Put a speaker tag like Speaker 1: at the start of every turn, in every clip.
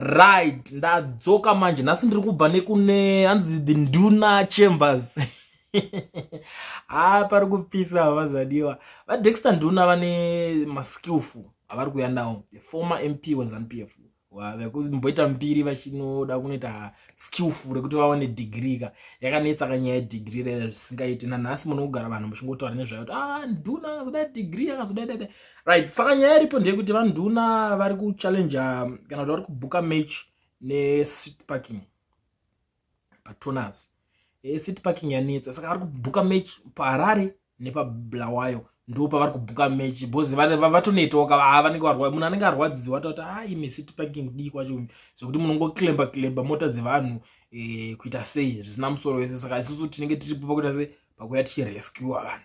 Speaker 1: right ndadzoka manje nhasi ndiri kubva nekune hanzi the nduna chambers haa pari kupisa havazadiwa vadexter nduna vane maskillful avari kuya nawo the former mp wezanpf vekumboita mbiri vachinoda kunoita skillful rekuti vawane degree ka yakanetsa ka nyaya yedegree rere zvisingaiti nanhasi munokugara vanhu muchingotaura nezvayo kuti ah nduna akazoda degree akazoda dada right saka nyaya iripo ndeyekuti vanduna vari kuchallenge kana kuti vari kubhuka match nesit parking patoners esit eh, parking yanetsa saka vari kubhuka match paharare nepablawayo ndo pavari kubhuka match bcause vatonetoka haa vanenge varwa munhu anenge arwadziwa toti ha ah, imi sit parking dii kwacho zvekuti munongoklemba klemba mota dzevanhu eh, kuita sei zvisina musoro wese saka isusu tinenge tiripo pakuita sei pakuya tichirescua vanhu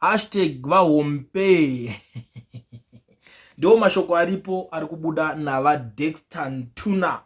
Speaker 1: hashtag vahompee ndiwo mashoko aripo ari kubuda navadexter ntuna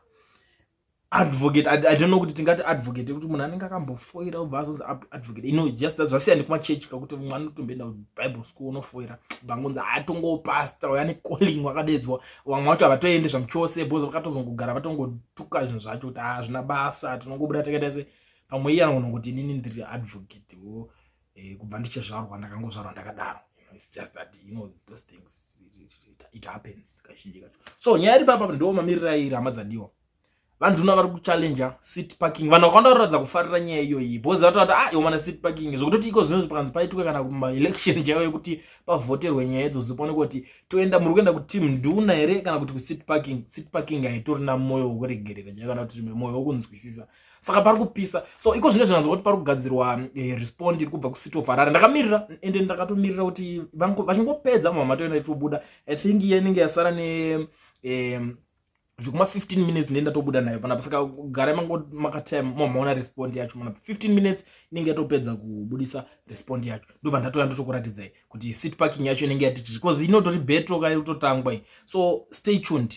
Speaker 1: advocate I, i don't know kuti tingati advocate kuti munhu anenge akambofoira obva azonzi advocate ino just that zvasiya nekumachechi kakuti mwana anotomboenda kubible school unofoira vangonzi hatongopasta uya necalling wakadeedzwa vamwe vacho havatoende zvamuchose bcause vakatozongogara vatongotuka zvinhu zvacho kuti hazvina basa tinongobuda takaita se pamwe iye anogona kuti inini ndiri advocate wo eh, kubva ndichizvarwa ndakangozvarwa ndakadaro it's just that you know those things it, it, it, it happens kazhinji kacho so nyaya iri papa ndo mamirira iri hama dzadiwa vanhu tino vari kuchallenger city parking vanhu vakawanda vanoratidza kufarira nyaya iyoyi bhozi vatoti ah iwo mana city parking zvokutoti iko zvinozvi pakanzi paitwe kana kumaelection chaiwo yekuti pavhoterwe nyaya idzo zvipaone kuti toenda muri kuenda kuteam nduna here kana kuti kucity parking city parking haitorina mwoyo wokuregerera chaiwo kana kuti mwoyo wokunzwisisa saka pari kupisa so iko zvine zvinanzwa kuti pari kugadzirwa eh, respond iri kubva kucity of harare ndakamirira ende ndakatomirira kuti vachingopedza mhamha toenda itobuda i think iye inenge yasara ne eh, zvekuma 15 minutes ndee ndatobuda nayo panapa saka garai makatime mamaona respond yacho manapa 15 minutes inenge yatopedza kubudisa respond yacho ndobva ndatouya ndotokuratidzai kuti sit parking yacho inenge yatichii bcause inotori betro kaitotangwa so stay tuned